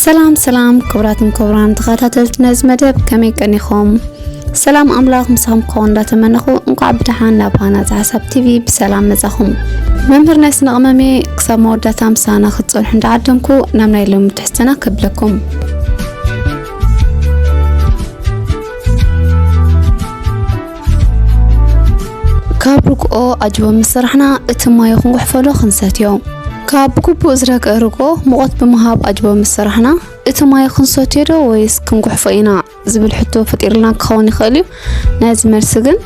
ሰላም ሰላም ክቡራትን ክቡራን ተኸታተልቲ ነዚ መደብ ከመይ ቀኒኹም? ሰላም ኣምላኽ ምሳኹም ክኸውን እንዳተመነኹ እንኳዕ ብደሓን ናብ ሃናፂ ሓሳብ ቲቪ ብሰላም መጻኹም። መምህር ናይ ስነ ቅመሜ ክሳብ መወዳእታ ምሳና ክትጸንሑ እንዳዓደምኩ ናብ ናይ ሎሚ ትሕዝተና ከብለኩም። ካብ ርግኦ ኣጅቦ ምስ ሰራሕና እቲ ማይ ክንጉሕፈሎ ክንሰትዮ ካብ ብግቡእ ዝረገ ርግኦ ሙቐት ብምሃብ ኣጅቦ ምስ ሰራሕና እቲ ማይ ክንሰትዮ ዶ ወይስ ክንጉሕፎ ኢና ዝብል ሕቶ ፈጢርልና ክኸውን ይኽእል እዩ ናይዚ መልሲ ግን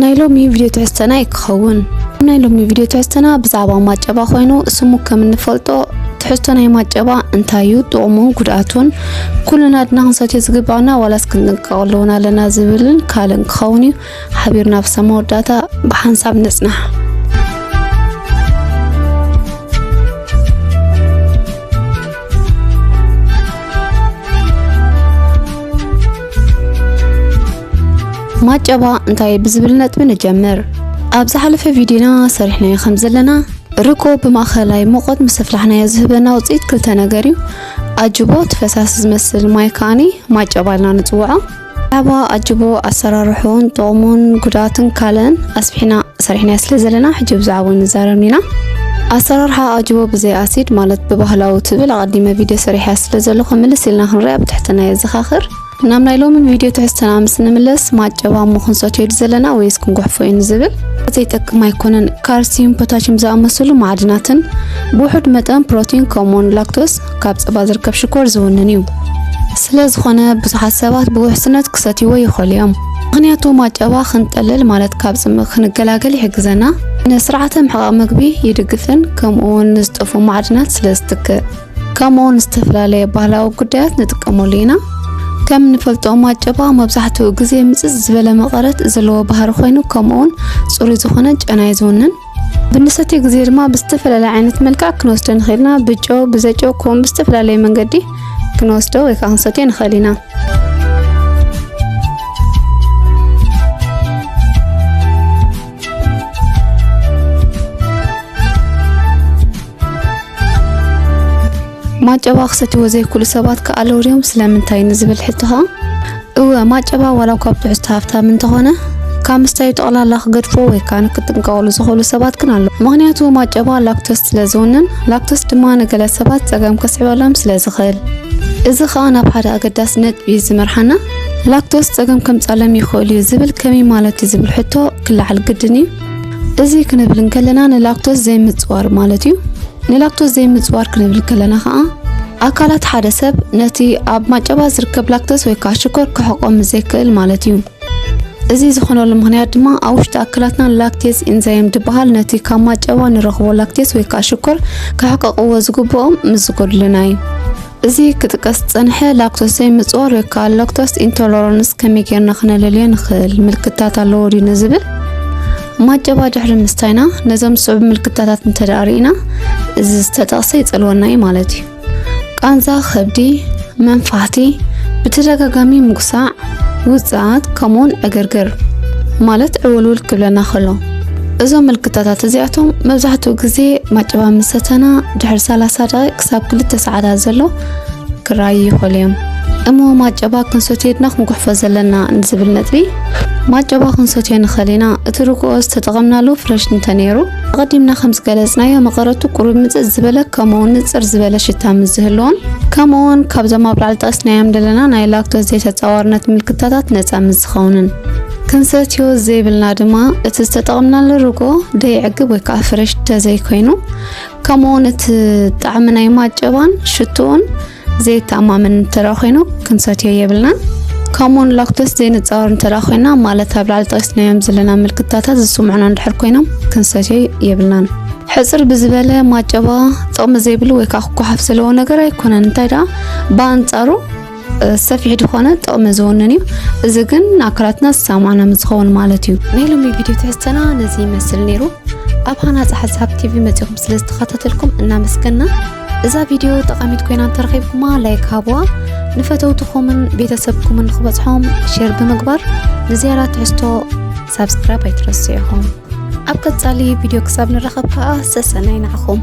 ናይ ሎሚ ቪድዮ ትሕዝተና እዩ ክኸውን ናይ ሎሚ ቪድዮ ትሕዝተና ብዛዕባ ማጨባ ኮይኑ ስሙ ከም እንፈልጦ ትሕዝቶ ናይ ማጨባ እንታይ እዩ ጥቕሙን ጉድኣቱን ኩልና ኣድና ክንሰትዮ ዝግባኣና ዋላስ ክንጥንቀቐሉ እውን ኣለና ዝብልን ካልእን ክኸውን እዩ ሓቢርና ብሰብ መወዳእታ ብሓንሳብ ንጽናሕ ማጨባ እንታይ ብዝብል ነጥቢ ንጀምር። ኣብ ዝሓለፈ ቪድዮና ሰሪሕናዮ ከም ዘለና ርጎ ብማእኸላይ ሙቐት ምስ ኣፍላሕናዮ ዝህበና ውፅኢት ክልተ ነገር እዩ። ኣጅቦ እቲ ፈሳሲ ዝመስል ማይ ከኣኒ ማጨባ ኢልና ንጽውዖ። ብዛዕባ ኣጅቦ ኣሰራርሑን ጥቕሙን ጉድኣቱን ካልእን ኣስፊሕና ሰሪሕናዮ ስለ ዘለና ሕጂ ብዛዕባኡ ንዛረብ ኢና። ኣሰራርሓ ኣጅቦ ብዘይ ኣሲድ ማለት ብባህላዊ ትብል ኣቐዲመ ቪድዮ ሰሪሐያ ስለ ዘለኹ ምልስ ኢልና ክንሪኣ ብትሕትና የዘኻኽር። ናብ ናይ ሎሚ ቪድዮ ትሕዝተና ምስ እንምለስ ማጨባ እሞ ክንሰትዮ ድ ዘለና ወይስ ክንጉሕፎ እዩ ንዝብል ዘይጠቅም ኣይኮነን። ካልሲዩም፣ ፖታሽም ዝኣመሰሉ ማዕድናትን ብውሑድ መጠን ፕሮቲን ከምኡውን ላክቶስ ካብ ጸባ ዝርከብ ሽኮር ዝውንን እዩ። ስለ ዝኾነ ብዙሓት ሰባት ብውሕስነት ክሰትይዎ ይኽእሉ እዮም። ምክንያቱ ማጨባ ክንጠልል ማለት ካብ ጽምእ ክንገላገል ይሕግዘና፣ ንስርዓተ ምሕቓቕ ምግቢ ይድግፍን ከምኡውን ንዝጠፍኡ ማዕድናት ስለ ዝትክእ። ከምኡ ንዝተፈላለየ ባህላዊ ጉዳያት ንጥቀመሉ ኢና። ከም ንፈልጦ ማጨባ መብዛሕትኡ ግዜ ምጽጽ ዝበለ መቐረት ዘለዎ ባህሪ ኮይኑ ከምኡውን ጽሩይ ዝኾነ ጨናይ ዝውንን ብንሰትዮ ግዜ ድማ ብዝተፈላለየ ዓይነት መልክዕ ክንወስዶ ንኽእል ኢና። ብጨው፣ ብዘጨው ከምኡውን ብዝተፈላለየ መንገዲ ክንወስዶ ወይ ከዓ ክንሰትዮ ንኽእል ኢና። ማጨባ ክሰትዎ ዘይክእሉ ሰባት ከ ኣለዉ ድዮም ስለምንታይ ንዝብል ሕቶ ኸኣ እወ ማጨባ ዋላ እኳ ኣብ ትሕዝቶ ሃፍታም እንተኾነ ካብ ምስታዩ ጠቕላላ ክገድፎ ወይ ከዓ ንክጥንቀቕሉ ዝኽእሉ ሰባት ግን ኣለዉ ምክንያቱ ማጨባ ላክቶስ ስለ ዝውንን ላክቶስ ድማ ንገለ ሰባት ጸገም ከስዕበሎም ስለ ዝኽእል እዚ ኸኣ ናብ ሓደ ኣገዳሲ ነጥቢ እዩ ዝመርሓና ላክቶስ ጸገም ከምጻሎም ይኽእል እዩ ዝብል ከመይ ማለት እዩ ዝብል ሕቶ ክለዓል ግድን እዩ። እዚ ክንብል እንከለና ንላክቶስ ዘይምጽዋር ማለት እዩ። ንላክቶስ ዘይምጽዋር ክንብል ከለና ከዓ ኣካላት ሓደ ሰብ ነቲ ኣብ ማጨባ ዝርከብ ላክቶስ ወይ ከዓ ሽኮር ክሕቆ ምዘይክእል ማለት እዩ። እዚ ዝኾነሉ ምክንያት ድማ ኣብ ውሽጢ ኣካላትና ላክቴዝ ኢንዛይም ዝበሃል ነቲ ካብ ማጨባ ንረኽቦ ላክቴዝ ወይ ከዓ ሽኮር ክሕቀቕዎ ዝግብኦም ምስ ዝጎድሉና እዩ። እዚ ክጥቀስ ዝጸንሐ ላክቶስ ዘይምጽኦ ሎካል ላክቶስ ኢንቶለራንስ ከመይ ጌርና ክነለልዮ ንኽእል ምልክታት ኣለዎ ድዩ ንዝብል ማጨባ ድሕሪ ምስታይና ነዞም ዝስዕቡ ምልክታታት እንተደኣ ርኢና እዚ ዝተጠቕሰ ይጸልወና እዩ ማለት እዩ። ቃንዛ ከብዲ፣ መንፋሕቲ፣ ብተደጋጋሚ ምጉሳዕ፣ ውጽኣት ከምኡውን ዕግርግር ማለት ዕውልውል ክብለና ከሎ እዞም ምልክታታት እዚኣቶም መብዛሕትኡ ግዜ ማጭባ ምስ ሰተና ድሕሪ 30 ደቂ ክሳብ ክልተ ሰዓታት ዘሎ ክረኣዩ ይኽእሉ እዮም እሞ ማጨባ ክንሰትዮድና ክንጉሕፎ ዘለና ንዝብል ነጥቢ ማጨባ ክንሰትዮ ንኽእል ኢና እቲ ርግኦ ዝተጠቐምናሉ ፍረሽ እንተነይሩ ኣቐዲምና ከም ዝገለጽናዮ መቐረቱ ቁሩብ ምጽእ ዝበለ ከምኡውን ንጽር ዝበለ ሽታ ምስ ዝህልዎን ከምኡውን ካብዞም ኣብ ላዕሊ ጠቕስናዮም ዘለና ናይ ላክቶስ ዘይተጻዋርነት ምልክታታት ነጻ ምስ ዝኸውንን ክንሰትዮ ዘይብልና ድማ እቲ ዝተጠቕምናሉ ርጎ ደይዕግብ ወይ ከዓ ፍረሽ ተዘይኮይኑ ከምኡውን እቲ ጣዕሚ ናይ ማጨባን ሽትኡን ዘየተኣማምን እንተ ኮይኑ ክንሰትዮ የብልናን ከምኡውን ላክቶስ ዘይንፃወር እንተ ኮይና ማለት ኣብ ላዕሊ ጠቂስናዮም ዘለና ምልክታታት ዝስምዑና እንድሕር ኮይኖም ክንሰትዮ የብልናን ሕፅር ብዝበለ ማጨባ ጥቕሚ ዘይብሉ ወይ ከዓ ክጓሓፍ ዘለዎ ነገር ኣይኮነን እንታይ ደኣ ብኣንፃሩ ሰፊሕ ዝኾነ ጥቕሚ ዝውንን እዩ እዚ ግን ንኣካላትና ዝሰማዕና ምዝኸውን ማለት እዩ ናይ ሎሚ ቪድዮ ትሕዝተና ነዚ ይመስል ነይሩ ኣብ ሃናፂ ሓሳብ ቲቪ መፂኹም ስለ ዝተኸታተልኩም እናመስገና እዛ ቪድዮ ጠቓሚት ኮይና እንተረኺብኩማ ላይክ ሃብዋ ንፈተውትኹምን ቤተሰብኩምን ንክበፅሖም ሼር ብምግባር ንዝያዳ ትሕዝቶ ሳብስክራይብ ኣይትረስዑኹም ኣብ ቀፃሊ ቪድዮ ክሳብ ንረኸብ ከዓ ሰሰናይ ንዓኹም